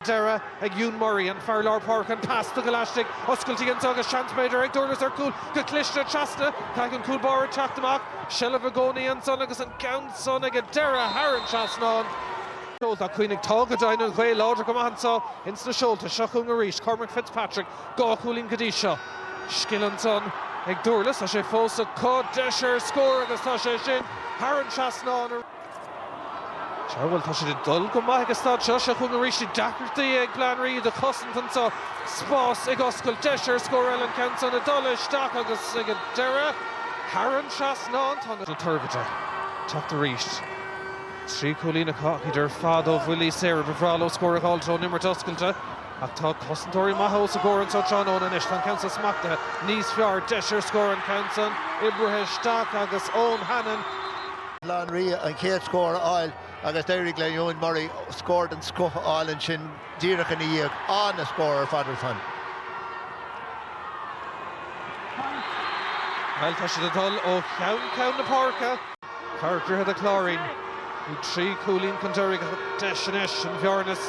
deireadh ag Euan Murray, an fear lár páirce, an pas tugtha laistigh. Oscailtí ann agus seans b'fhéidir ag Durlas ar chúl go cliste trasna. Caithfidh an cúl báire teacht amach. Seilbh i gcónaí ansan agus an ceann san ag an deireadh thar an trasnán. Seolta, cuimhnigh tá go deimhin an ghaoth láidir go maith anso ins na seolta. Seo chugainn arís Cormac Fitzpatrick. Dhá chúilín go dtí seo. Scil ansan ag Durlas. Tá sé fós acu. Deis ar scór agus tá sé sin thar an trasnán. Sea, bhuel, tá siad ag dul go maith ag an staid seo. Seo chugainn arís na deacrachtaí ag Baile Átha an Rí iad a chosaint anseo. Spás ag oscailt, deis ar scór eile, an ceann san ag dul isteach agus ag an deireadh, thar an trasnán, tá na Toirbhirte ag teacht arís. Trí chúilín acu ach iad ar fad ó bhuillí saora. Ba bhreá leo scór a dh'fháilt ón imirt oscailte. Ach tá cosantóirí maithe os a gcomhair anseo tráthnóna anois. Tá an ceann san smachtaithe níos fearr deis ar scór an ceann san oibrithe isteach agus Eoin Hannon. Baile Átha an Rí an chéad scór a fháil agus d'éirigh le Euan Murray scór den scoth a fháil ansin díreach ina dhiaidh. An-scór ar fad ar fad. Bhuel, tá siad ag dul ó cheann ceann na páirce. Fear Dhroichead a' Chláirín, bhí trí chúilín chun deiridh ach an deis anois an bhearna is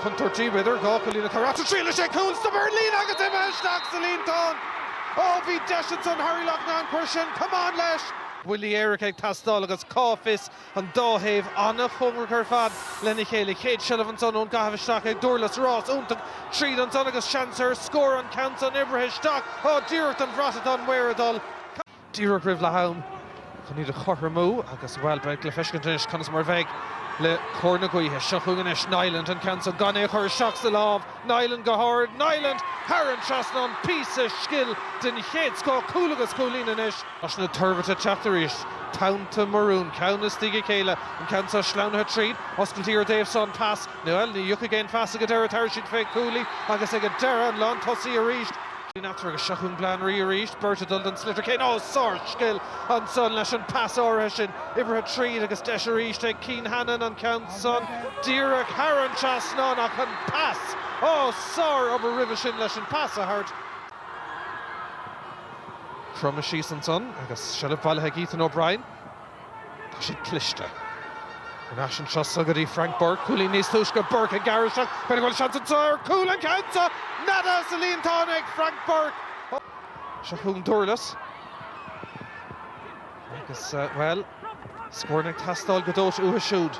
contúirtí, b'fhéidir, dhá chúilín a chur as. Triailfidh sé cúl stop ar an líne agus imithe isteach sa líontán! Ó, bhí deis ansan Harry Loughnane chuir sé an camán leis! Buillí éirice ag teastáil agus cá bhfios, an dá thaobh an-chóngarach ar fad lena chéile. Chéad seilbh ansan ón gcaitheamh isteach ag Durlas, rás iontach tríd ansan agus seans ar scór, an ceann san oibrithe isteach, á díreach don bhrat atá an maor ag dul. díreach roimh leath am chun iad a chothromú agus, bhuel, beidh le feiscint anois conas mar a bheidh le cóir na gaoithe. Seo chugainn anois Niland, an ceann seo gan é a chur isteach sa lámh. Niland go hard. Niland thar an trasnán. Píosa scil den chéad scoth. Cúl agus cúilín anois. Tá na toirbhirte ag teacht arís. Tonnta maroon, ceann i ndiaidh a chéile. An ceann seo sleamhnaithe tríd. Oscailtí ar an dtaobh seo an pas. Bhuel, ní thiocfaidh aon phas ag an deireadh. Tabharfaidh siad fé cúlaí agus ag an deireadh an lán tosaí arís. Ní nathair agus seo chugainn Baile Átha an Rí arís, beirt ag dul don sliotar céanna. Ó, sárscil ansan leis an pas áirithe sin. Oibrithe tríd agus deis arís ag Cian Hannon an ceann san díreach thar an trasnán ach an pas, ó, sárobair roimhe sin leis an pas a thabhairt. Cromadh síos ansan agus seilbh bailithe ag Ethan O'Brien. Tá siad cliste. Anois anseo sa go dtí Frank Burke. Cúilín níos túisce Burke ag gearradh isteach. B'fhéidir go bhfuil seans anseo ar chúl, an ceann san neadaithe sa líontán ag Frank Burke. Seo chugainn Durlas. Agus, bhuel, scóranna ag teastáil go dóite uathu siúd.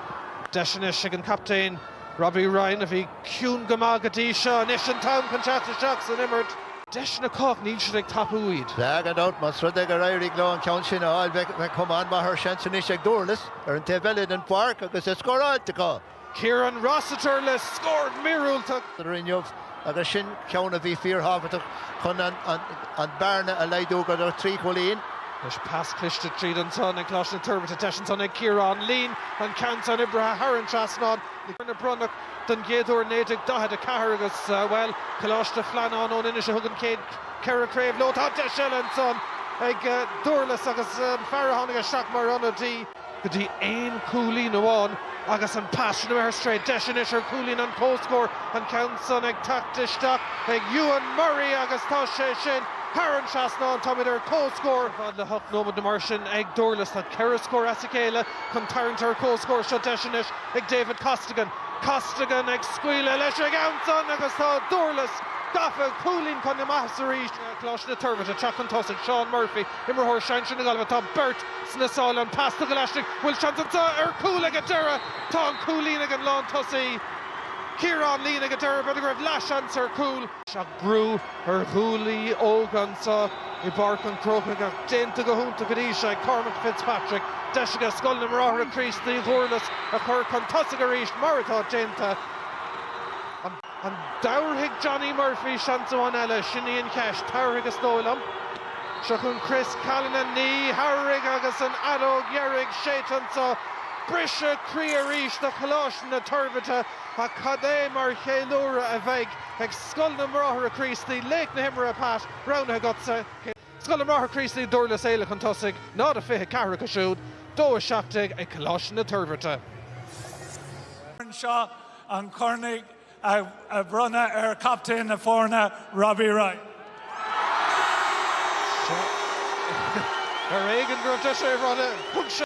Deis anois ag an gcaptaen. Robbie Ryan, a bhí ciúin go maith go dtí seo, anois an t-am chun teacht isteach san imirt. Deiseanna acu ach níl siad ag tapú iad. Bheadh gan dabht, más rud é gur éirigh leo an ceann sin a fháil, bheadh cuma an-mhaith air. Seans anois ag Durlas ar an taobh eile den pháirc agus é scóráilte acu. Kieran Rossiter le scór míorúilteach. inniu. agus sin ceann a bhí fíorthábhachtach chun an bhearna a laghdú go dtí 3 chúilín. Anois pas cliste tríd ansan ag Coláiste na Toirbhirte, deis ansan ag Ciarán Leen, an ceann san oibrithe thar an trasnán, a bronnadh don gcéad uair 1944 agus, bhuel, Coláiste Flannáin ón Inis a thug an chéad cheithre chraobh leo. Tá deis eile ansan ag Durlas agus an fear a tháinig isteach mar ionadaí, go dtí aon chúilín amháin agus an pas sin imithe ar strae. Deis anois ar chúilín an comhscóir, an ceann san ag teacht isteach ag Euan Murray agus tá sé sin thar an trasnán. Táimid ar comhscór ar fad le hocht nóiméad nó mar sin ag Durlas. Tá ceithre scór as a chéile chun tarraingt ar an comhscór seo. Deis anois ag David Costigan. Costigan ag scaoileadh leis an gceann san agus tá Durlas gafa cúilín chun na maitheasa arís. Coláiste na Toirbhirte ag teacht chun tosaigh. Seán Murphy, imreoir sinsir na Gaillimhe. Tá beirt. sna sála an pas tugtha laistigh bhfuil seans anseo ar chúl ag an deireadh tá an cúilín ag an lán tosaí Ciarán Leen ag an deireadh b'fhéidir go raibh leath seans ar chúl ach brú ar ghuaillí óga anseo i bPáirc an Chrócaigh ach déanta go hiontach go dtí seo ag Cormac Fitzpatrick deis aige Scoil na mBráithre Críostaí Dhúrlas a chur chun tosaigh arís mar atá déanta an An dtabharfaidh Johnny Murphy seans amháin eile, sin í an cheist? Tabharfaidh is dóigh liom. Seo chun Chris Callanan, ní thabharfaidh agus an fheadóg dheiridh séidte anseo. Briseadh croí arís do Choláiste na Toirbhirte ach cad é mar cheiliúradh a bheidh ag Scoil na mBráithre Críostaí, laoch na himeartha Pat, roghnaithe agatsa. Scoil na mBráithre Críostaí, Dúrlas Éile chun tosaigh, 0-24 acu siúd, 2-17 ag Coláiste na Toirbhirte. an corn á bhronnadh ar chaptaen na foirne, Robbie Ryan. Ar éigean go raibh deis é a bhronnadh.